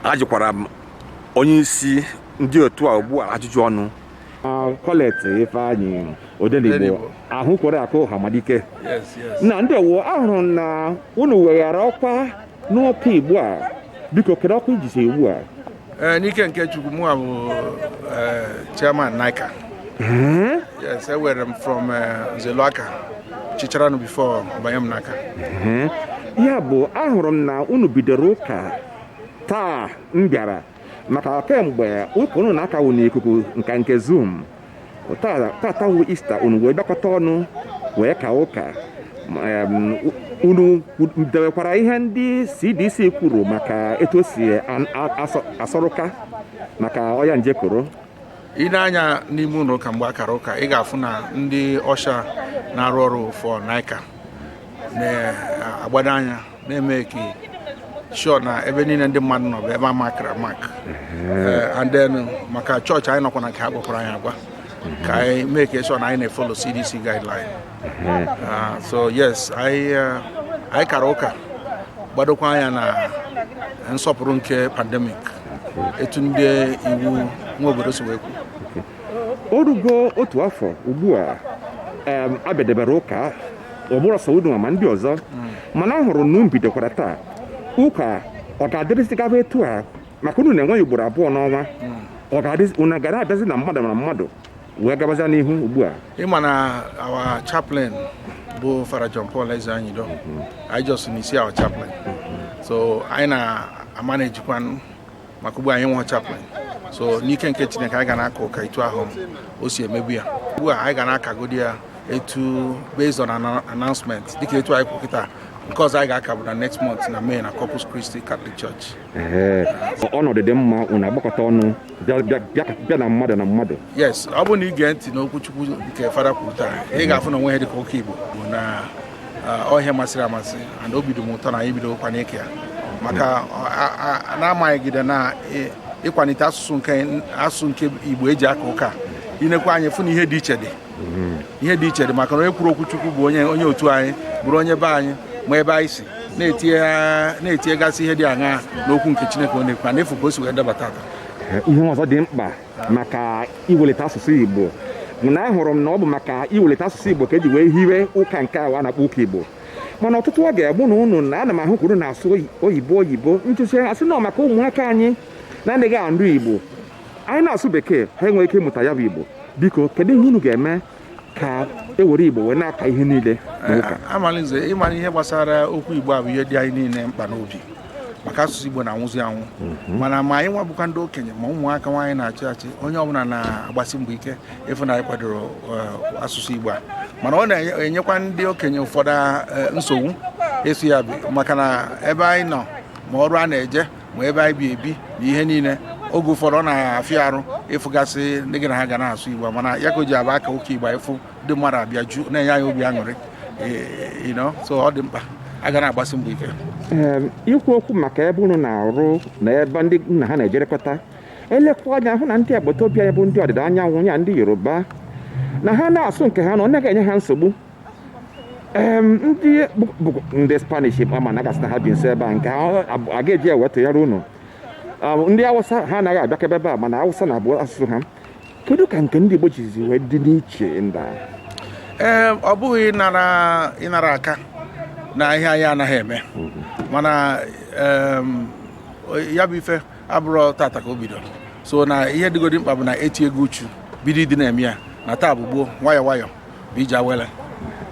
ajụkwara m onye isi ndị otu a ugbu a ajụjụ ọnụ Colette Ifeanyi Odenigbo ahụ kwere akụ Hamadike nna ndeewo ahụrụ na unu weghara ọkwa n'ụka Igbo a biko kedu ọkwa i jizi ugbu a Eh, n'ike nke chukwu mụ bụ eh, chairman NICCA hmm? yes ewere m from eh, nzeluaka chicharanu before banye m n'aka hmm? ya bụ ahụrụ m na unu bidoro ụka taa m bịara maka kemgbe ụka unu na-akawu n'ikuku nka nke zoom Tata tata wụ Ista unu wee bịakọta ọnụ wee ka ụka Ma, em, u- unu kwu- dewekwara ihe ndị CDC kwuru maka etu o si an- a- asọ- asọrụka maka ọya nje koro i nee anya n'ime ụlọ ụka mgbe a kara ụka ị ga-afụ na ndị usher na-arụ ọrụ for NICCA na-agbado anya na-eme ka sure na ebe niile ndị mmadụ nọ bụ ebe a makara amak Eh, and then maka chọọchị anyị nọkwa na nke ha gwakwara anyị agwa ka anyị mee ka sure na anyị na-efolo cdc guideline Ah, so yes anyị eh, anyị kara ụka gbadokwa anya na nsọpụrụ nke pandemic etu ndị iwu nwe obodo si wee kwuo o rugo otu afọ ugbu a em, a bịadebere ụka ọ bụrọ sọ unu ma ndị ọzọ mana a hụrụ na unu bidokwara taa ụka ọ ga-adịrịzigaba etu a maka unu na-enwe ya ugboro abụọ n'ọnwa ọ ga-adịzi unu ga na-abịazi na mmadụ na mmadụ wee gabazie n'ihu ugbu a ị ma na our chaplain bụ Fada John Paul Ezeonyido anyị just miss our chaplain so anyị na-amanejikwanụ maka ugbu a anyị enwe chaplain so n'ike nke chineke anyị ga na-aka ụka etu ahụ o si emebu ya ugbu a anyị ga na-akagodi ya etu based on announcement dịka etu anyị kwu kịta nke ọzọ anyị ga-aka bụ na next month na May na Corpus Christi Catholic Church ọnọdụ dị mma unu agbakọta ọnụ bịa na mmadụ na mmadụ yes ọ bụrụ na ị gee ntị n'okwuchukwu nke fada kwuru taa ị ga-afụ na o nwe ihe dịka ụka Igbo bụ na ọ ihe masịrị amasị and obi dị m ụtọ na anyị bidokwa n'ike ya maka na-amaghịgide na ịkwalite asụsụ nke asụsụ nke igbo eji aka ụka i nekwa anya ị fụ na ihe dị iche dị ihe dị iche dị maka na onye kwuru okwu chukwu bụ onye onye otu anyị bụrụ onye be anyị ma ebe anyị si na-etinyegasị ihe dị aṅa n'okwu nke chineke ọ na-ekwu and ị fụ ka o si wee dabata ihe ọzọ dị mkpa maka iwelite asụsụ Igbo na ahụrụ m na ọ bụ maka iwelite asụsụ Igbo ka eji wee hiwe ụka nke a a na-akpọ ụka Igbo mana ọtụtụ oge mụ na unu nọ ana m ahụkwa unu na-asụ oyibo oyibo unu si asị na maka ụmụaka anyị na-anaghị anụ Igbo anyị na-asụ bekee ha enweghị ike ịmụta ya bụ Igbo biko kedu ihe unu ga-eme ka e were igbo wee na-aka ihe niile n'ụka amalize ị ma na ihe gbasara okwu igbo a bụ ihe dị anyị niile mkpa n'obi maka asụsụ igbo na-anwụzi anwụ mana ma anyị nwa bụkwa ndị okenye ma ụmụaka nwa anyị na-achị achị onye ọbụla na-agbasi mbọ ike ịfụ na anyị kwadoro eh, asụsụ igbo a mana ọ na-enyekwa ndị okenye ụfọdụ eh, nsogbu ịsụ ya bụ maka na ebe anyị nọ ma ọrụ a na-eje ma ebe anyị bi ebi na ihe niile oge ụfọdụ ọ na-afịa arụ ịfụgasị ndị gị na ha ga na-asụ igbo mana ya ka o ji abụ a kaa ụka igbo ịfụ ndị mmadụ abịaju na-enye anyị obi aṅụrị so ọ dị mkpa a ga na-agbasi mbọ ike ikwu okwu maka ebe unu na-arụ na ebe ndị unu na ha na-ejerekọta elekwa anya hụ na ndị agbata obi anyị bụ ndị ọdịda anyanwụ ya ndị yoruba na ha na-asụ nke ha na ọ naghị enye ha nsogbu ndị bụ ndị spanish ama m na ị ga-asị na ha bi nso ebe a nke a ga-eji ewetụnyere unu ndị awụsa ha anaghị abịakebe ebe a mana awụsa na-abụ asụsụ ha kedu ka nke ndị igbo jizi wee dị n'iche nda ee ọ bụghị ịna-arụ aka na ihe anyị anaghị eme mhm. mana ya bụ ife abụrọ tata ka o bidoro so na ihe dịgodi mkpa bụ na etiego uchu bido ịdị na-eme ya na taa bụ gboo nwayọ nwayọ bụ ije awele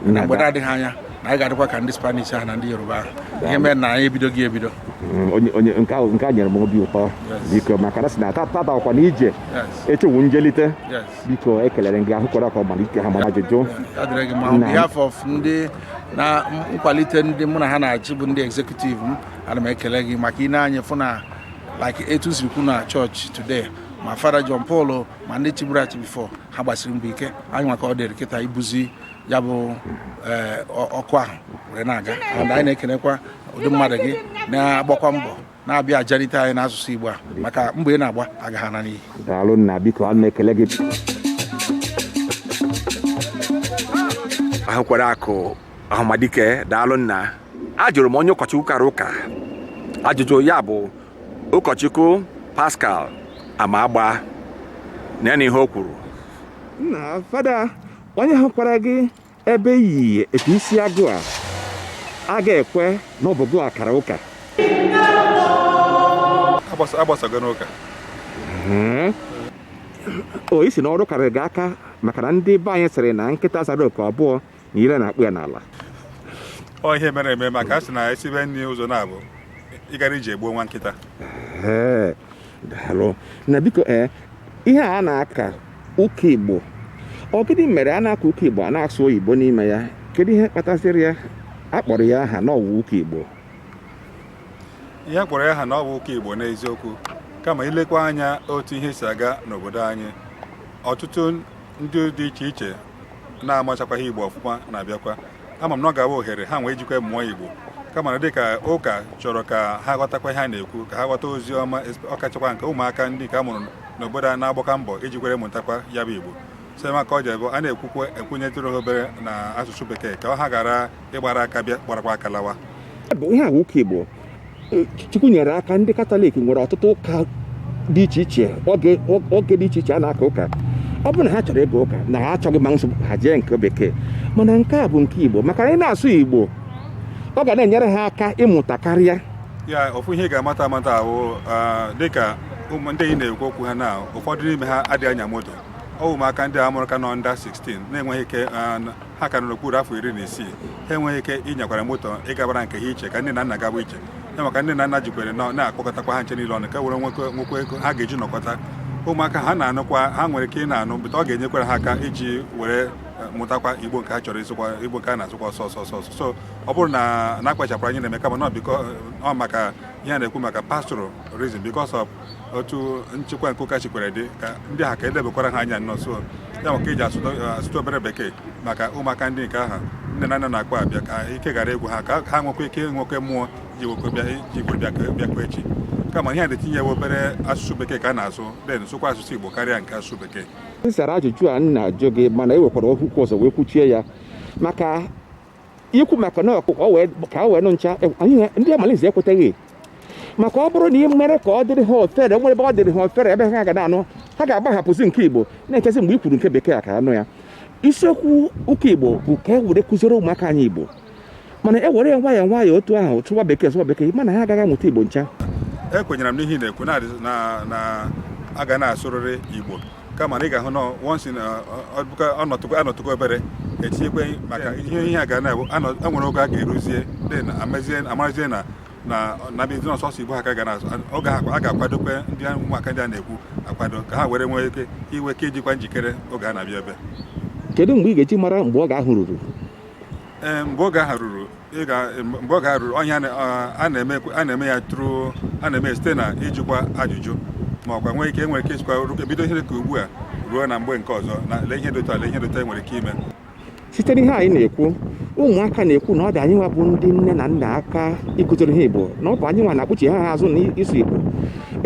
na mgbe na-adịghị anya na anyị ga-adịkwa ka ndị spanish ahụ na ndị yoruba ahụ ihe mere na anyị ebidogo ebido Mm, onye onye nke ahụ nke a nyere m obi ụtọ biko maka na a sị na tata tata ọkwa na ije yes echewu njelite yes biko ekelere m gị ahụkwara ka ọ malite ha mara ajụjụ ya dịrị gị mma on behalf of ndị na nkwalite ndị mụ na ha na-achị bụ ndị executive m ana m ekele gị maka ine anya fụ na like etu e siri kwu na church today ma fada John Paul ma ndị chiburu achị before ha gbasiri mbọ ike anyị nwa ka ọ dịịrị kịta ibuzi ya bụ eh, ọkụ ahụ were na-aga and anyị na-ekelekwa ụdị mmadụ gị na-agbakwa mbọ na-abịa ajalite anyị n'asụsụ Igbo a maka mbọ ị na-agba agaghị ana n'iyi daalụ nna biko ana m ekele gị ahụkwara akụ ahụmadike daalụ nna ajụrụ m onye ụkọchukwu kara ụka ajụjụ ya bụ ụkọchukwu pascal amagba na na ihe o kwuru nna fada onye hụkwara gị ebe i yi etu isi agụ a aga ekwe na ọ bụ gị wa kara ụka agbasago n'ụka o isi na ọrụ karịrị gị aka maka na ndị be anyị sịrị na nkịta zara oku abụọ na ire na-akpụ ya n'ala ọ ihe mere eme maka a sị na esibe nri ụzọ naabọ ịgarị ije egbuo nwa nkịta Ee, daalụ nna biko ee ihe a na-aka ụka igbo ọ gịnị mere a na-aka ụka igbo a na-asụ oyibo n'ime ya kedu ihe kpatasịrị ya a kpọrọ ya aha na ọ wụ ụka igbo ihe a kpọrọ ya aha na ọ bụ ụka igbo n'eziokwu kama i lekwaa anya otu ihe si aga n'obodo anyị ọtụtụ ndị dị iche iche na-amachakwaghị igbo ọfụma na-abịakwa ama m na ọ ga-abụ ohere ha nwee ijikwa mụọ igbo kama na dịka ụka chọrọ ka ha ghọtakwa ihe a na-ekwu ka ha ghọta ozi ọma ọkachakwa nke ụmụaka ndị nke a mụrụ n'obodo a na-agbakwa mbọ ijikwere mụtakwa ya bụ igbo so maka ọ ji ebe a na-ekwukwa ekwunyetụrụ ha obere na asụsụ bekee ka ha ghara ịgbara aka bịa gbarakwa aka lawa bụ ihe ahụ ụka igbo e, chukwu nyere aka ndị katọlik nwere ọtụtụ ụka dị iche iche oge dị iche iche a na-aka ụka ọ bụrụ na ha chọrọ ịga ụka na ha achọghị ma nsogbu ha jee nke bekee mana nke a bụ nke igbo maka na ị na-asụ igbo ọ ga na-enyere ha aka ịmụta karịa ya ofu ihe ị ga-amata amata ahụ dịka ụmụ ndị ị na-ekwu okwu ha na ụfọdụ n'ime ha adịghị anya moto ọ bụ ụmụaka ndị a mụrụ ka nọ under 16 na-enweghị ike ha ka nọ n'okpuru afọ iri na isii ha enweghị ike ịnyakwara moto ịgabara nke ha iche ka nne na nna gaba iche ya maka nne na nna jikwere nọ na-akpọkọtakwa ha ncha niile ọnụ ka were nwekọ nwekwa ego ha ga-eji nọkọta ụmụaka ha na-anụkwa ha nwere ike ị na-anụ bụta ọ ga-enyekwara ha aka iji were eh, mụtakwa igbo nke ha chọrọ ịsụkwa igbo nke a na-asụkwa ọsọ ọsọ ọsọ ọsọ so ọ bụrụ na na akpachapụrụ anya na-eme kama na ọ because ọ maka ihe a na-ekwu maka pastoral reason because of otu nchekwa nke ụka jikwere dị ka ndị ha ka e lebakwara ha anya nnọọ so ya maka eji asụtụ obere bekee maka ụmụaka ndị nke ahụ nne na nna na-akpọ abịa ka ike ghara ịgwụ ha ka ha nwekwa ike nwekwe mmụọ jikwe bịa jikwe bịa bịakwa echi kama ihe a na-etinyewe obere asụsụ bekee ka a na-asụ then sụkwa asụsụ igbo karịa nke asụsụ bekee ị zara ajụjụ a m na-ajụ gị mana i wekwara okwu ọzọ wee kwuchie ya maka ikwu maka na ọ bụ ka ọ wee ka ọ wee nụ ncha e- anyị na- ndị amalize ekweteghị maka ọ bụrụ na ị mere ka ọ dịrị ha ofere nwere ebe ọ dịrị ha ofere ebe ha ga na-anụ ha ga-agbahapụzi nke igbo na-echezi mgbe i kwuru nke bekee ha ka anụ ya isiokwu ụka igbo bụ ka e were kụziere ụmụaka anyị igbo mana e were ya nwayọọ nwayọọ otu ahụ sụwa bekee sụwa bekee mana ha agaghị amụta igbo ncha ekwenyere m n'ihe ị na-ekwu na- na na a ga na-asụrịrị igbo kama na ị ga-ahụ na once in a- ọ bụ ka a nọtụkwa a nọtụkwa obere etinyekwe maka ihe ihe a ga na-abụ anọ- e nwere oge a ga-eruzie dị na amezie amarazie na na na ọ bụzi na sọsọ igbo ha ka ga na oge ahụ a ga-akwadokwe ndị a- ụmụaka ndị a na-ekwu akwado ka ha were nwee ike iwe ka ijikwa njikere oge a na-abịa ebe kedu mgbe ị ga-eji mara mgbe oge ahụ ruru Eh, mgbe oge ahụ ruru eh, mgbe oge ahụ ruru onye eh, a na-eme ya through a na-eme site na ijikwa ajụjụ ma ọkwa nwee ike nwere ike isikwa ebido ihe ka ugbu a ruo na mgbe nke ọzọ na lee ihe dota lee ihe dota e nwere ike ime site n'ihe anyị na-ekwu ụmụaka na-ekwu na ọ dị anyị nwa bụ ndị nne na nna aka ịkụziri ha igbo na ọ bụ anyị nwa na-akpụchi ha azụ n'ịsụ igbo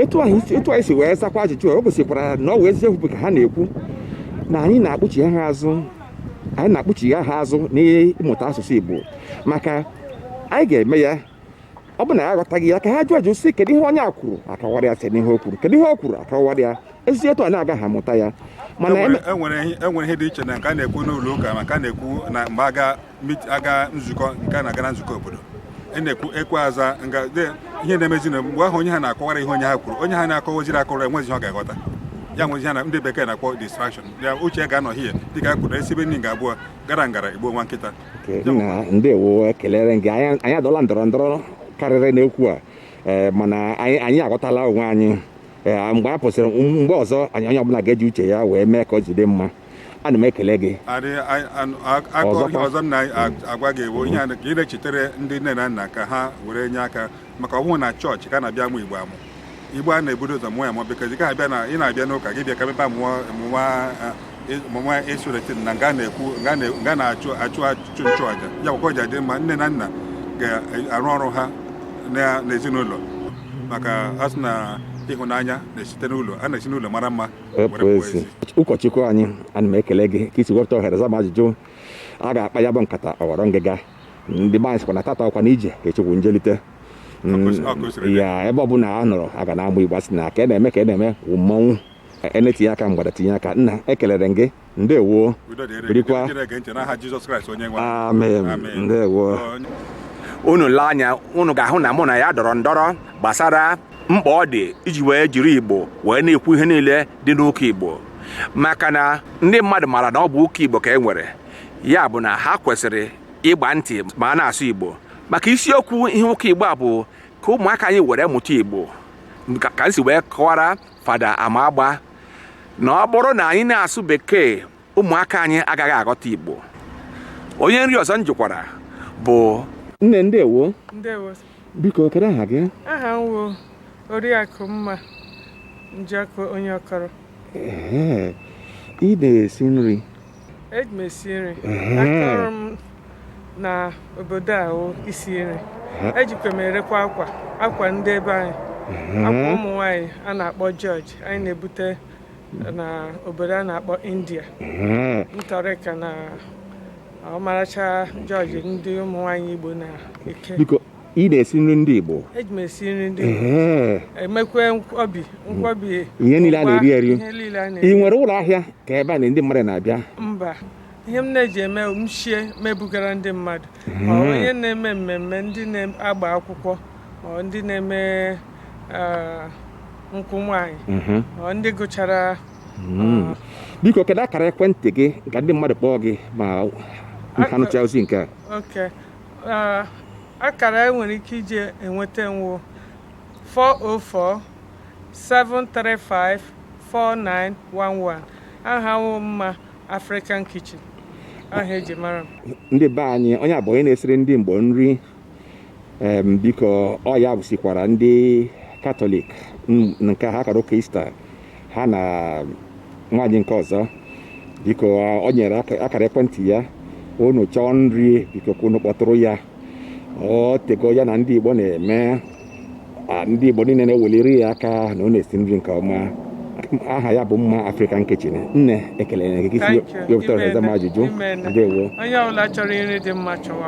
etu anyị si wee zakwa ajụjụ o gosikwara na ọ bụ eziokwu ka ha na-ekwu na anyị na-akpụchi ha azụ anyị na-akpụchigha ha azụ n'ịmụta asụsụ Igbo maka anyị ga-eme ya ọ bụ na ya aghọtaghị ya ka ha jụọ ajụ sị kedu ihe onye a kwuru a kọwara ya site n'ihe o kwuru kedu ihe o kwuru a kọwara ya e si etu a na-agaghị amụta ya mana e nwere e ihe dị iche na nke a na-ekwu n'ụlọ ụka maka a na-ekwu na mgbe a ga nzukọ nke a na-aga na nzukọ obodo e na-ekwu ekwe aza nga ihe na-emezi na mgbe ahụ onye ha na-akọwara ihe onye ha kwuru onye ha na-akọwaziri akọrọ enwezi ihe ọ ga-aghọta ya nwezi ihe a ndị bekee na-akpọ distraction ya uche ga-anọhie dịka anyị kwuru e sibe nri nga abụọ gara ngara egbuo nwa nkịta Nke nna ndewo ekelere gị anyị anyị adọla ndọrọ ndọrọ karịrị n'okwu a ee, mana anyị anyị aghọtala onwe anyị Ee, mgbe a pụsịrị mgbe ọzọ anyị onye ọbụla ga-eji uche ya wee mee ka o jide mma ana m ekele gị adị anyị- anụ- a- aka Ọzọkwa. ọzọ m na-agwa gị bụ ihe a na- ka ị na-echetere ndị nne na nna ka ha were nye aka maka ọ bụghị na chọọchị ka a na-abịa amụ igbo amụ igbo a na-ebudo ụzọ mụọ ya mụọ bikọzi ka a bịa na ị na-abịa n'ụka gị bịa ka mebe amụọ mụwa mụwa esuretin na nga na-ekwu nga na-achụ achụ achụ nchụ aja ya gwakọọ ya adị mma nne na nna ga-arụ ọrụ ha n'ezinụlọ maka a sị na ịhụnanya na-esite n'ụlọ a na-esi n'ụlọ mara mma ụkọchukwu anyị ana m ekele gị ka i si wepụta ohere zaa m ajụjụ a ga-akpa ya bụ nkata ọ ghọrọ ngịga ndị be anyị sịkwa na tata ọkwa na ije echi wụ njelite Mm, Ọ kwesị- ọ kwesịrị ịdị. ya ebe ọbụla a nọrọ a ga na-agba igba sị na ka a na-eme ka a na-eme wụ mmọnwụ a na-etinye aka mgbada tinye aka nna ekelere m gị ndewo Udo dịrị gị. birikwa Ndị na-ege ntị n'aha Jizọs Kraịst onye nwe anyị. amen Amen. ndewo Onye- unu lee anya unu ga-ahụ na mụ na ya dọrọ ndọrọ gbasara mkpa ọ dị iji wee jiri igbo wee na-ekwu ihe niile dị n'ụka igbo maka na ndị mmadụ maara na ọ bụ ụka igbo ka e nwere ya bụ na ha kwesịrị ịgba ntị ma a na-asụ Igbo maka isiokwu ihe ụka Igbo a bụ ka ụmụaka anyị were mụta Igbo ka ka m si wee kọwara fada Amagba na ọ bụrụ na anyị na-asụ bekee ụmụaka anyị agaghị aghọta Igbo onye nri ọzọ m jụkwara bụ nne ndewo ndewo biko kedu aha gị aha m wụ oriakụ mma njọkụ onye ọkọrọ Ee, ị na-esi nri eji m esi nri aka ọrụ m na obodo a wụ isi nri ejikwa m erekwa akwa akwa ndị ebe anyị akwa ụmụ nwaanyị a na-akpọ jọji anyị na-ebute na obodo a na-akpọ india Intorica na ọmaracha jọji ndị ụmụ nwaanyị igbo na-eke biko ị na-esi nri ndị Igbo eji m esi nri ndị Igbo ee emekwe nkwobi nkwobi ihe niile a na-eri eri ihe niile a na-eri ị nwere ụlọ ahịa ka ebe a na ndị mmadụ na-abịa mba ihe m na-eji eme m shie m ebugara ndị mmadụ ma ọ onye na-eme mmemme ndị na-agba akwụkwọ ma ọ ndị na-eme ah, nkwụ nwaanyị Mhm. ma ọ ndị gụchara Mm. biko kedu akara ekwentị gị ka ndị mmadụ kpọọ gị ma ha nụcha ozi nke a oke akara e nwere ike iji enweta m wụ 404 735 4911 aha m wụ Mma African Kitchen aha eji mara m ndị be anyị onye a bụ onye na-esiri ndị Igbo nri em, biko ọ ya bụ sikwara ndị katọlik n- nke ha kara ụka ista ha na nwaanyị nke ọzọ biko o nyere akara ekwentị ya unu chọọ nri biko ka unu kpọtụrụ ya ọ tego ya na ndị Igbo na-eme ndị Igbo niile na-eweliri ya aka na ọ na-esi nri nke ọma aha ya bụ Mma African Kitchen nne ekele m gị ka i si wepụta ohere zaa m ajụjụ ndewo onye ọbụla chọrọ nri dị mma chọwa